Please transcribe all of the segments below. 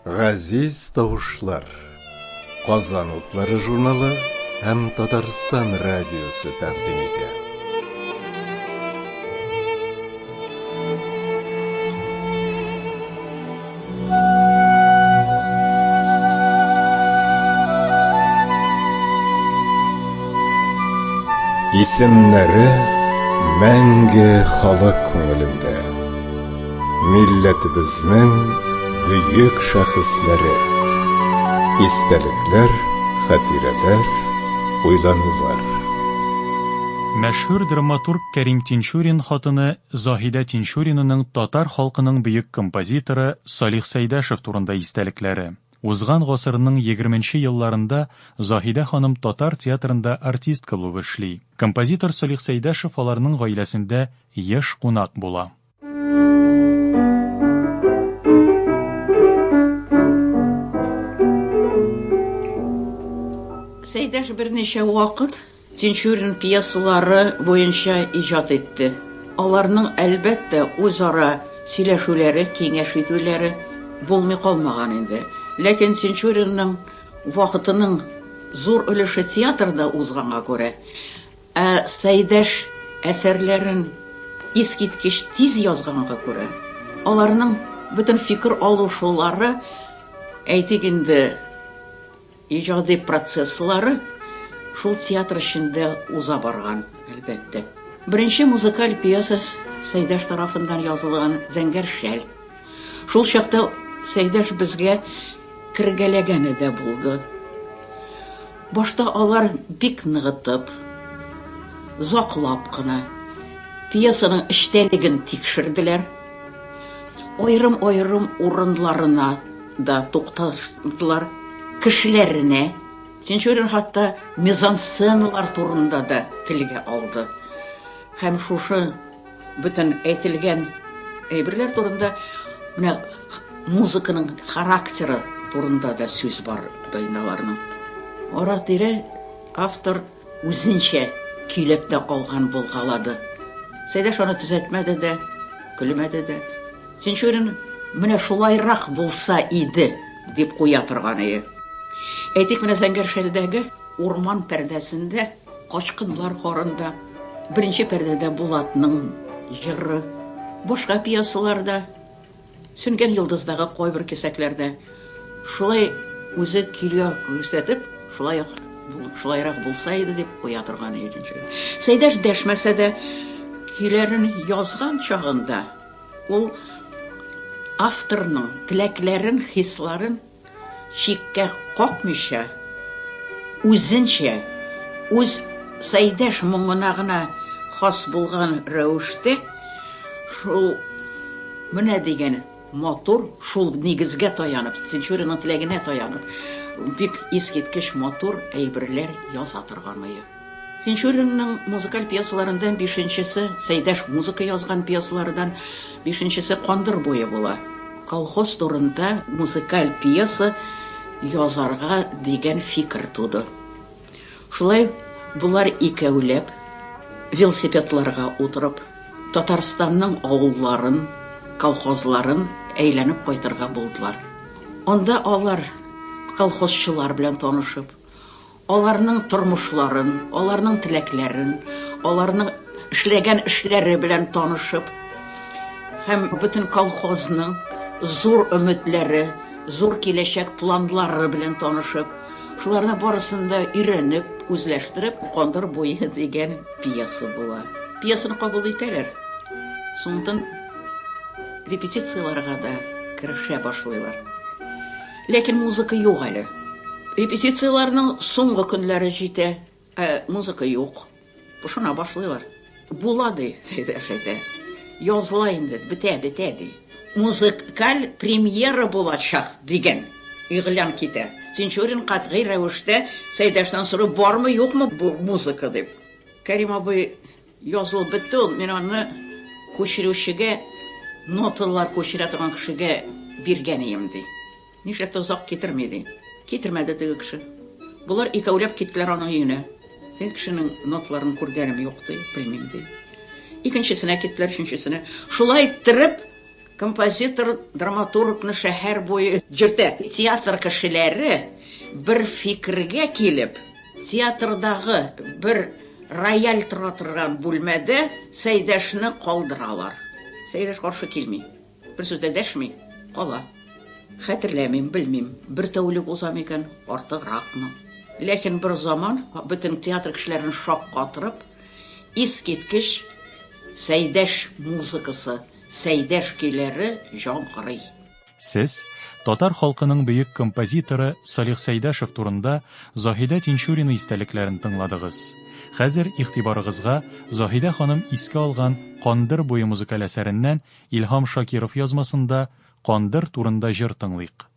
Газиз тавышлар. Казан утлары журналы һәм Татарстан радиосы тәкъдим итә. Исемнәре мәңге халык күңелендә. Милләтебезнең бөек шәхесләре. Истәлекләр, хатирәләр, уйланулар. Мәшһүр драматург Кәрим Тинчурин хатыны Заһидә Тинчуринының татар халкының бөек композиторы Салих Сәйдәшев турында истәлекләре. Узган гасырның егерменче елларында Заһидә ханым татар театрында артистка булып эшли. Композитор Салих Сәйдәшев аларның гаиләсендә еш кунак була. Сәйдәш берничә вакыт. Тинчурин пьесалары буенча иҗат итте. Аларның, әлбәттә, үзара сөйләшүләре, киңәш итүләре булмый калмаган инде. Ләкин Тинчуринның вакытының зур өлеше театрда узганга күрә, ә Сәйдәш әсәрләрен искиткеч тиз язганга күрә, аларның бөтен фикер алышулары, әйтик инде, Иҗади процесслары шул театр эчендә уза барган, әлбәттә. Беренче музыкаль пьеса Сәйдәш тарафыннан язылган Зәңгәр шәл. Шул чакта Сәйдәш безгә кергәләгәне дә булды. Башта алар бик ныгытып, заклап кына пьесаның эчтәлеген тикшерделәр. Аерым-аерым урыннарына да тукталдылар, кешеләренә. Тинчурин хәтта мизансценалар турында да телгә алды. Һәм шушы бөтен әйтелгән әйберләр турында менә музыканың характеры турында да сүз бар Дайналарның. Ара-тирә автор Үзенчә көйләп тә алган булгалады. Сәйдәш аны төзәтмәде дә, көлмәде дә. Тинчурин менә шулайрак булса иде, дип куя торганыя. Әйтик, менә Зәңгәр шәлдәге урман пәрдәсендә Качкыннар хорында, беренче пәрдәдә Булатның җыры, башка пьесаларда, Сүнгән йолдыздагы кайбер кисәкләр дә шулай үзе килү күрсәтеп, шулай ук шулайрак булса иде дип куя торган иде икенче көн. Сәйдәш дәшмәсә дә, көйләрен язган чагында ул авторның теләкләрен, хисларын, чиккә какмыйча, үзенчә, үз Саидәш моңына гына хас булган рәвештә, шул менә дигән матур, шул нигезгә таянып, Тинчуринның теләгенә таянып, бик искиткеч матур әйберләр яза торган ае. Тинчуринның музыкаль пьесаларында бишенчесе, Сәйдәш музыка язган пьесалардан бишенчесе Кандыр буе була. Колхоз турында музыкаль пьеса язарга дигән фикер туды. Шулай болар икәүләп, велосипедларга утырып, Татарстанның авылларын, колхозларын әйләнеп кайтырга булдылар. Анда алар колхозчылар белән танышып, Аларның тормышларын, аларның теләкләрен, аларның эшләгән эшләре белән танышып һәм бөтен колхозның зур өметләре, зур киләчәк планлары белән танышып, шуларны барысын да өйрәнеп, үзләштереп, Кандыр буе дигән пьеса була. Пьесаны кабул итәләр. Соңыннан репетицияләргә дә керешә башлыйлар. Ләкин музыка юк әле. Репетицияләрнең соңгы көннәре җитә, ә музыка юк. Пошына башлыйлар. Була, ди Сәйдә әфәнде. Языла инде, бетә, бетә, ди. Музыкаль премьера булачак, дигән игълан китә. Тинчурин катгый рәвештә Сәйдәштән сорый, бармы, юкмы бу музыка, дип. Кәрим абый. Язылып бетте ул, мин аны күчерүчегә, ноталар күчерә торган кешегә биргән ием, ди. Нишләп тә озак китерми, ди. Китермәде теге кеше. Болар икәүләп киттеләр аның өенә. Теге кешенең ноталарын күргәнем юк, ди, белмим, ди. Икенчесенә киттеләр, өченчесенә. Шулай иттереп. Композитор драматургны шәһәр буе йөртә. Театр кешеләре бер фикергә килеп, театрдагы бер рояль тора торган бүлмәдә Сәйдәшне калдыралар. Сәйдәш каршы килми. Бер сүз дә дәшми, кала. Хәтерләмим, белмим, бер тәүлек уза микән, артыгракмы. Ләкин бер заман бөтен театр кешеләрен шаккатырып, искиткеч Сәйдәш музыкасы Сәйдә шкиләре җангырый. Сез татар халкының бөек композиторы Салих Сәйдәшев турында Заһидә Тинчурина истәлекләрен тыңладыгыз. Хәзер игътибарыгызга Заһидә ханым искә алган Кандыр буе музыкаль әсәреннән Илһам Шакиров язмасында Кандыр турында җыр тыңлыйк.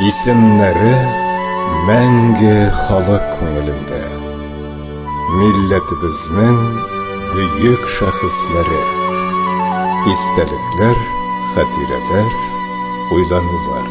Исемнәре мәңге халык күңелендә. Милләтебезнең бөек шәхесләре. Истәлекләр, хатирәләр, уйланулар.